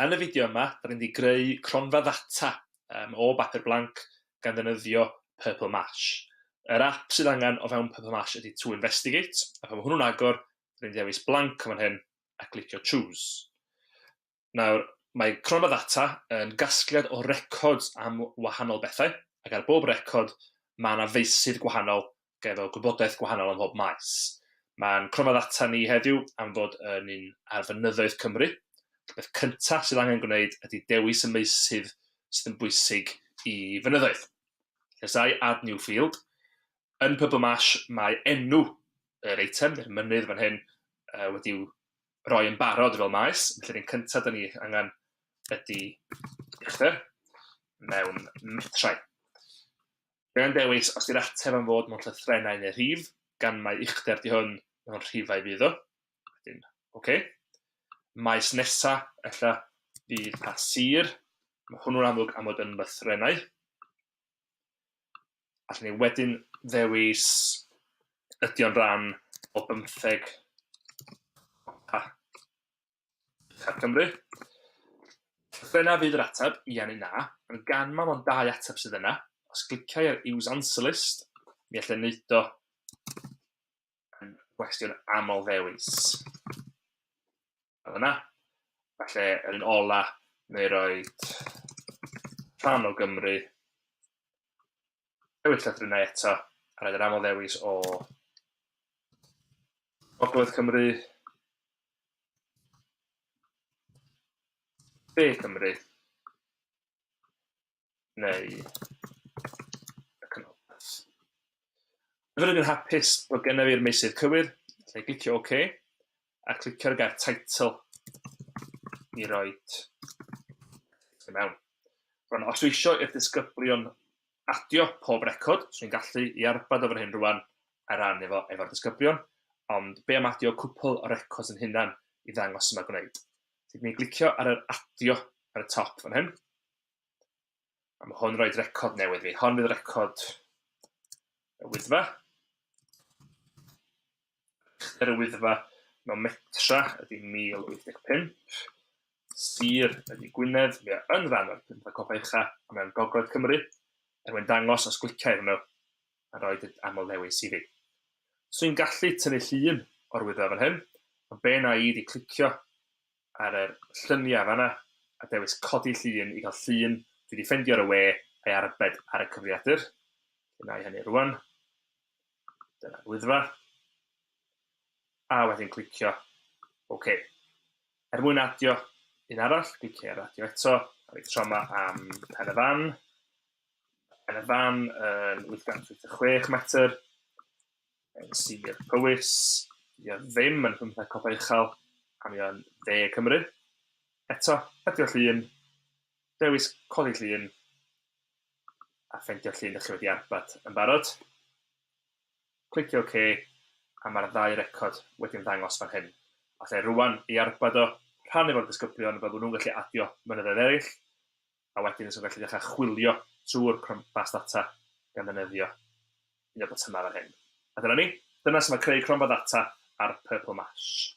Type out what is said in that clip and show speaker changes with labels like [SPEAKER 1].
[SPEAKER 1] Yn y fideo yma, da ni'n mynd i greu cronfa ddata um, o bapur blanc gan ddefnyddio Purple Mash. Yr app sydd angen o fewn Purple Mash ydy To Investigate, a pan mae hwnnw'n agor, da ni'n dewis blank o fan hyn a glicio Choose. Nawr, mae Cronfa Ddata yn gasgliad o records am wahanol bethau, ac ar bob record mae yna feysydd gwahanol efo gwybodaeth gwahanol ym mhob maes. Mae'n Cronfa Ddata ni heddiw am fod yn un ar fynyddoedd Cymru, y peth cyntaf sydd angen gwneud ydy dewis y meysydd sydd yn bwysig i fynyddoedd. Llesau Add New Field. Yn Purple Marsh mae enw yr eitem, neu'r mynydd fan hyn, wedi'w roi yn barod fel maes, felly'r un cyntaf da ni angen ydy uchder mewn metrau. Gan dewis os di'r ateb am fod mewn llythrenau neu rhif, gan mae uchder di hwn mewn rhifau fydd o. Wedyn, oce. Okay. Maes nesa, ella fydd pa sir, mae hwnnw'n amlwg am fod yn lythrenau. Allwn ni wedyn ddewis ydy o'n rhan o bymtheg a Uchaf Cymru. Dyna fydd yr ateb, ia neu na, ond gan mae o'n dau ateb sydd yna, os gliciau ar Use Answer List, mi allai wneud o yn gwestiwn aml ddewis. fel yna. Falle yr un ola, neu roed rhan o Gymru. Newid llythrennau eto, a roed yr aml ddewis o Ogledd Cymru, De Cymru, neu y Canolbarth. Rydw i'n hapus bod gennyf i'r meysydd cywir, felly clicio OK, a clicio'r gair title i roi i mewn. Rwan, os dwi eisiau i'r disgyblion adio pob record, so ni'n gallu i arbad o fan hyn rwan a ran efo efo'r disgyblion, ond be am adio cwpl o records yn hunan i ddangos yma gwneud. Felly ni'n glicio ar yr adio ar y top fan hyn, A mae hwn roed record newydd fi. Hon fydd record y wyddfa. Uchder y wyddfa mewn metra ydy 1085. Sir ydy Gwynedd. Mae yn rhan o'r pynta copa ucha a mae'n gogledd Cymru. Er mwyn dangos os gliciau hwnnw a roed y aml ddewis i fi. So i'n gallu tynnu llun o'r wyddfa fan hyn, ond be na i di clicio ar yr llynia fana a dewis codi llun i gael llun dwi di ffendio ar y we a'i arbed ar y cyfriadur felly nai hynny rwan dyna'r wyddfa a wedyn clicio ok er mwyn adio un arall clicio ar adio eto a fi tro ma am pen y fan pen y fan yn 886 metr yn Sir Powys, dydy o ddim yn Rhyntheg Copa Uchel, a mae o'n dde Cymru. Eto, hedio llun, dewis codi llun, a ffendio llun da chi wedi arbad yn barod. Clicio OK, a mae'r ddau record wedi'n ddangos fan hyn. Alla i rwan ei arbad o, rhannu fo'r disgyblion fel bod nhw'n gallu adio mynyddoedd eraill, a wedyn so gallu dechrau chwilio trwy'r cromfa data gan ddefnyddio un o'r botymau fan hyn. A dyna ni. Dyna sut mae creu cromfa data ar Purple Mash.